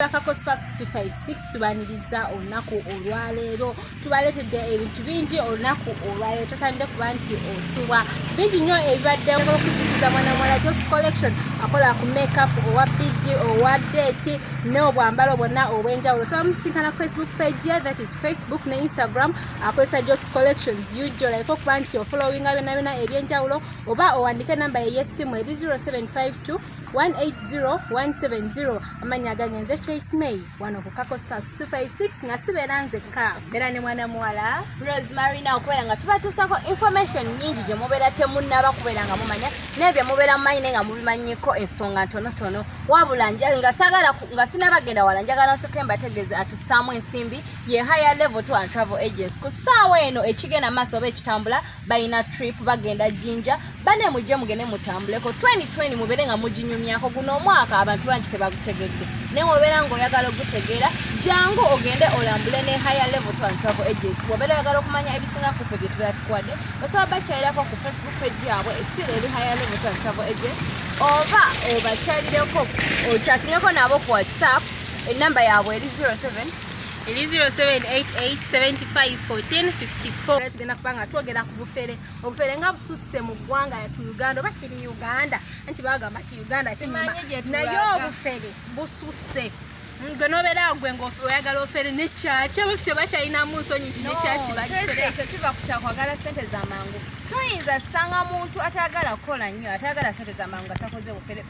kakakospark256 tubaniriza olunaku olwaleero tubaleetedde ebintu bingi olunaku olwaleero tosanidde kuba nti osubwa bingi nnyo ebibadde okujukiza mwana mwala jobs collection akola ku makeup owa bd owa date n'obwambalo bwonna obw'enjawulo so bamusinkana ku facebook page ye that is facebook ne instagram akozesa jobs collections ug olayika okuba nti ofolowinga byonna byonna eby'enjawulo oba owandike enamba ye y'essimu eri 0752 180170 amannya agange nze trace may wano ku cacos parks 256 nga sibeera nzekka mbeera ne mwana muwala rose marina okubeera nga tubatuusako information nyingi gye mubeera temunnaba kubeera nga mumanya n'ebyo mubeera mumanyi naye nga mubimanyiko ensonga ntonotono wabula nga sagala nga sinabagenda wala njagala nsoke mbategeeze atusaamu ensimbi ye higher level to and travel agents ku ssaawa eno ekigenda maaso oba ekitambula balina trip bagenda jinja bane mujje mugende mutambuleko 2020 mubeere nga muginyumyako guno omwaka abantu bangi tebagutegedde naye wobeera ngaoyagala ogutegeera jangu ogende olambule ne higher level to travel agency wobeera oyagala okumanya ebisinga kufe bye tubeera tukuwadde osobola bakyalirako ku facebook page yaabwe still eri higher level to travel agency oba obakyalireko okyatingako nabo ku whatsapp enamba yaabwe eri 07 eri 0788 75 14 54 tugenda kuba nga twogera ku bufere obufere nga bususse mu ggwanga yatu uganda oba kiri uganda anti bagamba ki uganda kinyuma naye obufere bususse gwe nobeera gwe ngaoyagala ofere nekyaki abo tebakyalinamu nsonyi nti nekyaki ekyo kiva ku kyakwagala sente zamangu toyinza sanga muntu atayagala kukola nnyo atayagala sente zamangu nga takoze bufere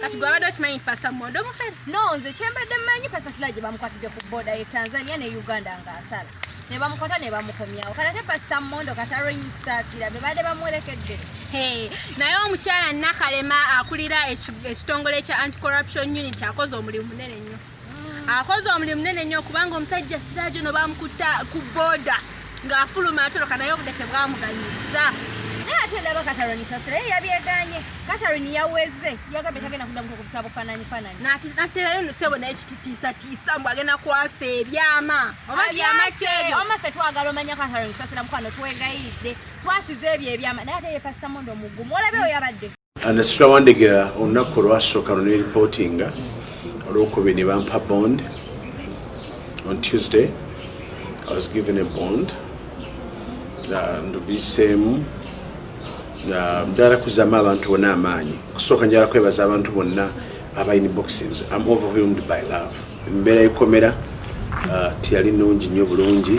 kati gwe abadde okimanyi nti pasita mumonde omufere no nze kyembadde mmanyi pasita sila gye bamukwatidde ku boda ye tanzania ne uganda ng'asala ne bamukwata ne bamukomyawo kati ate pasita mumonde kati alwenyi kusaasira be baadde bamuwerekedde naye omukyala nakalema akulira ekitongole kya anti corruption unit akoze omulimu munene nnyo akoze omulimu munene nnyo kubanga omusajja sirajo no bamukutta ku boda ng'afuluma atoloka naye obudde tebwamuganyizza naye ate ndaba catherine tosera ye yabyeganye catherine yaweze yagambye tagenda kuddamu kukubisa bufananyi fananyi naterayo nosebo naye kitutiisatiisa mbu agenda kwasa ebyama oba byama kyeyo oma ffe twagala omanya catherine tosera mukwano twegayiridde twasiza ebyo ebyama naye ate ye pasita mondo omugumu olabe oyo abadde Nasitula Wandegera olunaku olwasooka lwe neeripootinga olwokubiri ne bampa bond on Tuesday I was given a bond ndubiseemu njagala kuzaamu abantu bonna amaanyi okusooka njagala kwebaza abantu bonna aba in boxings am overwhelmed by love embeera yekomera uh, teyali nungi nnyo bulungi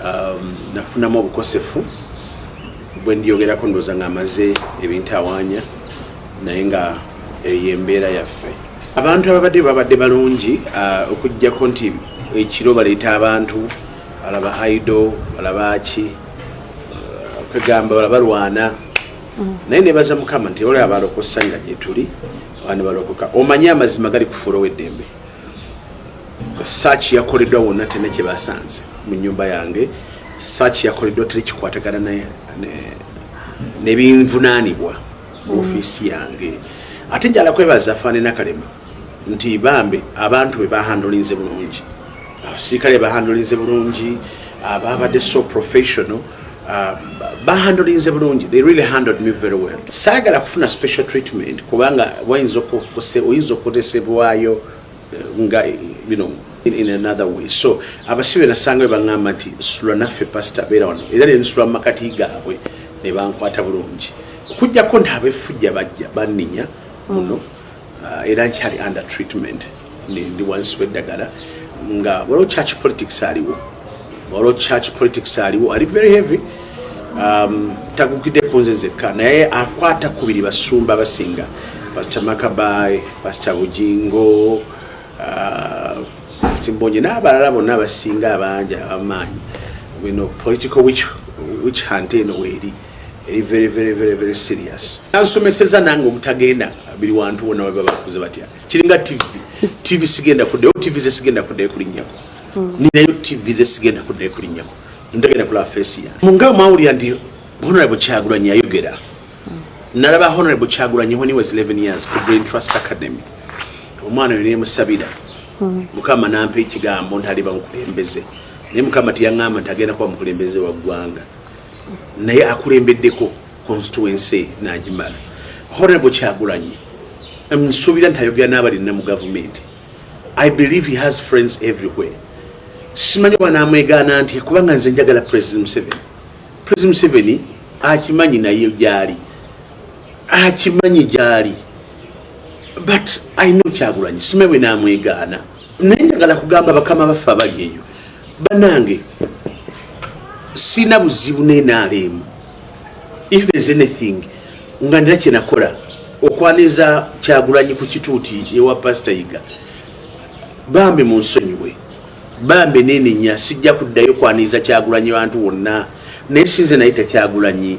um, nafunamu obukosefu bwendiyogerako ndoza nga amaze ebintu awanya naye nga eyo embeera yaffe abantu ababadde babadde balungi uh, okujjako nti ekiro baleeta abantu alaba aido alabaaki uh, kwegamba balabalwana mm. naye nebaza mukama nti olaba balokosa nga gyetuli abana balokoka omanye amazima gali kufuula oweddembe search yakoleddwa wonna tena kyebasanze mu nyumba yange search yakoleddwa teri kikwatagana nebinvunanibwa mu mm. ofiisi yange ate njala kwebaza faane nakalema nti bambe abantu bebahandolinze bulungi abasirikale bahandolinze bulungi ababadde so professional Uh, bahandolinze bulungi they really handled me very well saagala kufuna special treatment kubanga wayinza oyinza okukozesebwayo eh, nga you know, in, in another way so abasibe nasanga we baŋŋamba nti sula naffe pasita beera wano era nensula mu makati gaabwe ne bankwata bulungi okujjako nti abefujja bajja banninya muno mm. uh, era nkyali under treatment ndi wansi weddagala nga waliwo church politics aliwo waliwo church politics aliwo ali very heavy um, tagukidde kunze zekka naye akwata kubiri basumba basinga pasita makabayi pasita bujingo uh, timbonye n'abalala bonna abasinga abangi abamaanyi political witch hunt eno weeri eri very very very very serious nansomeseza nange obutagenda biri wantu bona baba bakuze batya kiringa tv tv sigenda kudeyo tv ze sigenda kudeyo kulinyako mm. ninayo tv ze sigenda kudeyo kulinyako ndagenda kula face ya munga mauli ya ndi honorable chagura nya yogera mm. naraba honorable chagura nya when he was 11 years ku brain trust academy omwana yone musabira mm. mukama nampe ikigambo ntaliba mukulembeze ne mukama tiyangama ntagenda kwa mukulembeze wa gwanga naye akulembeddeko constituency nagimala horrible kyagulanyi nsuubira nti ayogera n'abalinna mu gavumenti i believe he has friends everywhere simanyi oba namwegaana nti kubanga nze njagala president museveni president museveni akimanyi naye gyali akimanyi gyali but i know kyagulanyi simanyi bwe namwegaana naye njagala kugamba bakama baffe abali eyo banange sina buzibu nenaalemu if there's anything nga nina kyenakola okwaniriza kyagulanyi ku kituuti ewa pasita yiga bambi munsonyiwe bambi nenenya sijja kuddayo kwaniriza kyagulanyi bantu wonna naye sinze naye takyagulanyi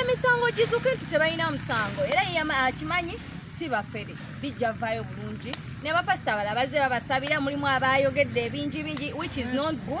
emisango gizuke nti tebalina musango era akimanyi si bafere bijja vaayo bulungi ne bapasita abala bazze babasabira mulimu abayogedde ebingi bingi which is not good